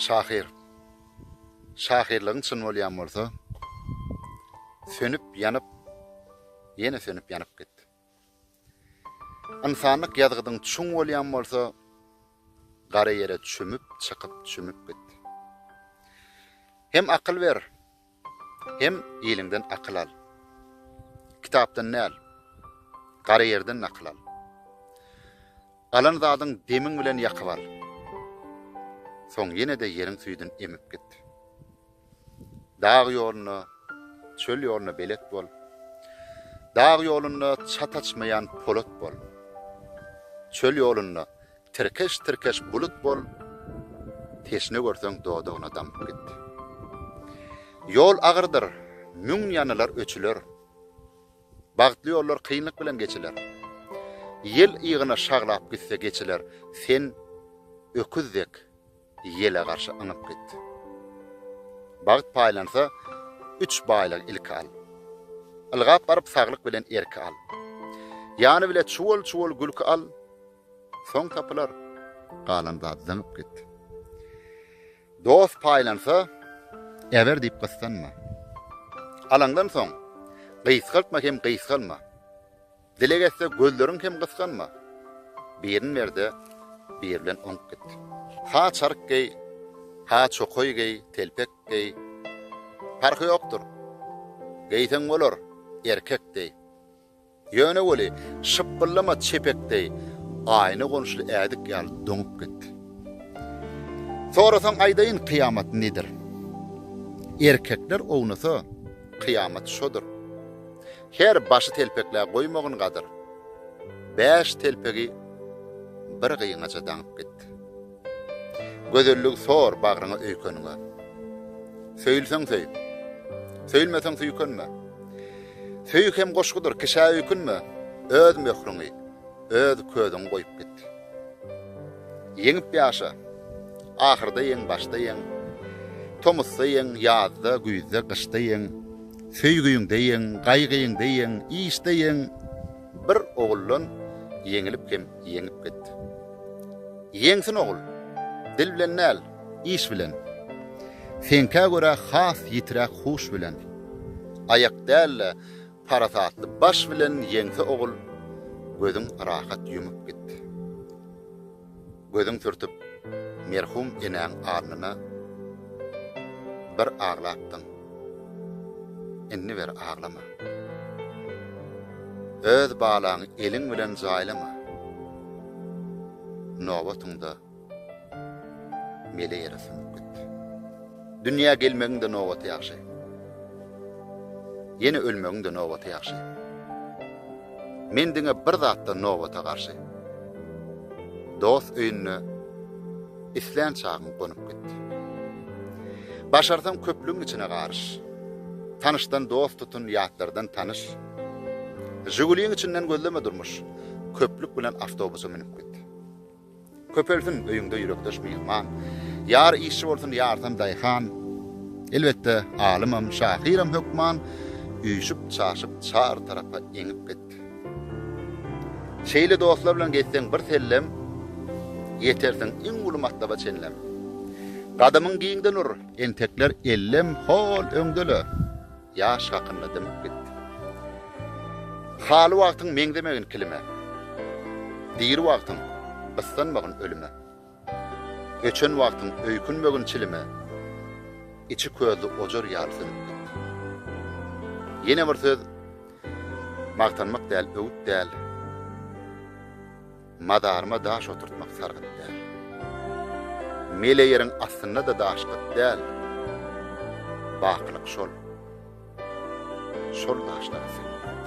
Şahyr, şahyrlygyň çyn bolýan bolsa, sönüp-ýanyp, ýene sönüp-ýanyp git. Ynsanlyk ýazgydyň çuň bolýan bolsa, gara ýere çümüp, çykyp, çümüp git. Hem akyl ber, Hem iliňden akyl al. Kitapdan däl, gara ýerden nakyl al. Alan zadyň demiň bilen ýakyp al. Soň ýene-de ýeriň süýdün emip git. Dag ýoluna, çöl ýoluna belet bol. Dag ýolunda çat açmaýan polat bol. Çöl ýolunda Tirkeş-tirkeş bulut bol, teşne görseň dodagyna damyp git. Ýol agyrdyr, müň ýanylar, öçüler. Bagtly ýollar kynlyk bilen geçiler. Ýel ygyna şaglap gitse geçiler, sen öküz dek. Ýele garşy yňyp git. Bagt paýlansa, üç baýlygy ilki al. Ylgap baryp saglyk bilen erki al. Ýany bile çuwal-çuwal gülki al, soň tapylar, galan zat zyňyp git. Dost paýlansa, äber diýip gyssanma. Alaňdan soň, gysgaltma hem gysgalma. Dileg etse gözleriň kem gysganma, Birin ber-de, bir bilen oňup git. Ha çaryk geý, ha çokaý geý, telpek geý, Parhy ýokdur, geýseň bolar, erkek deý. Ýöne weli, şypbyllama çepek deý, Aýna gonuşly ädik ýaly doňup git. Sorasaň aýdaýyn kyýamat nedir? Erkekler ownasa, kyýamat şodur. Her başy telpekle goýmagyn gadyr. Bäş telpegi bir gyňaja daňyp git. Gözelligi sor bagryňa öýkeniňe. Söýülseň söý. Söýülmeseň süýkenme. Söýgi hem goşgudyr, kişä öýkünme. Öz möhrüňi, öz közüňi goýup git. Ýeňip ýaşa. Ahyrda ýeň, başda ýeň. Tomusda ýeň, ýazda, güýzde, gyşda ýeň. Söýgiňde ýeň, gaýgyňda ýeň, işde ýeň, bir oguldan ýeňilip hem ýeňip git. Ýeňsin ogul, dil bilen däl, iş bilen. Seňkä görä has ýitiräk huş bilen. Aýak däl-de, parasatly baş bilen ýeňse ogul, gözüň rahat ýumup git. Gözün sürtüp merhum enäň alnyna bir aglapdyň, indi bir aglama. Öz balaňy eliň bilen jaýlama, nobatyňda mele ýere sümüp git. Dünýä gelmegiň-de nobaty ýagşy. Ýene ölmegiň-de nobaty ýagşy. Men diňe bir zatdan nobata garşy. Dost öýünde islän çagyň gonup git. Başarsaň köplügiň içine garyş. Tanyşdan dost tutun, ýatlardan tanyş. Žiguliň içinden gözleme durmuş. Köplük bilen awtobusa münüp git. Köpelsin öýüňde ýürekdeş myhman, Ýar işçi bolsun, ýarsam daýhan. Elbetde, alymam, şahyram hökman, Üýşüp-çaşyp çar tarapa eňip git. Şeýle dostlar bilen gezseň bir sellem, Ýetersiň iň uly matlaba çenlem. Gadamyň giňden ur, entekler ellem, Hol öňde-le! Ýaş hakynda dymyp gitdi. Haly wagtyň meňzemegin kilime, Diri wagtyň gyssanmagyn ölüme, Öçen wagtyň öýkünmegin çilime, Içi közli ojar ýaly sönüp gitdi. Ýene bir söz, magtanmak däl, öwüt däl. Mazaryma daş oturtmak sargyt däl. Mele ýeriň astynda-da daş gyt däl. Bakylyk şol. Şol daşlara söýünt.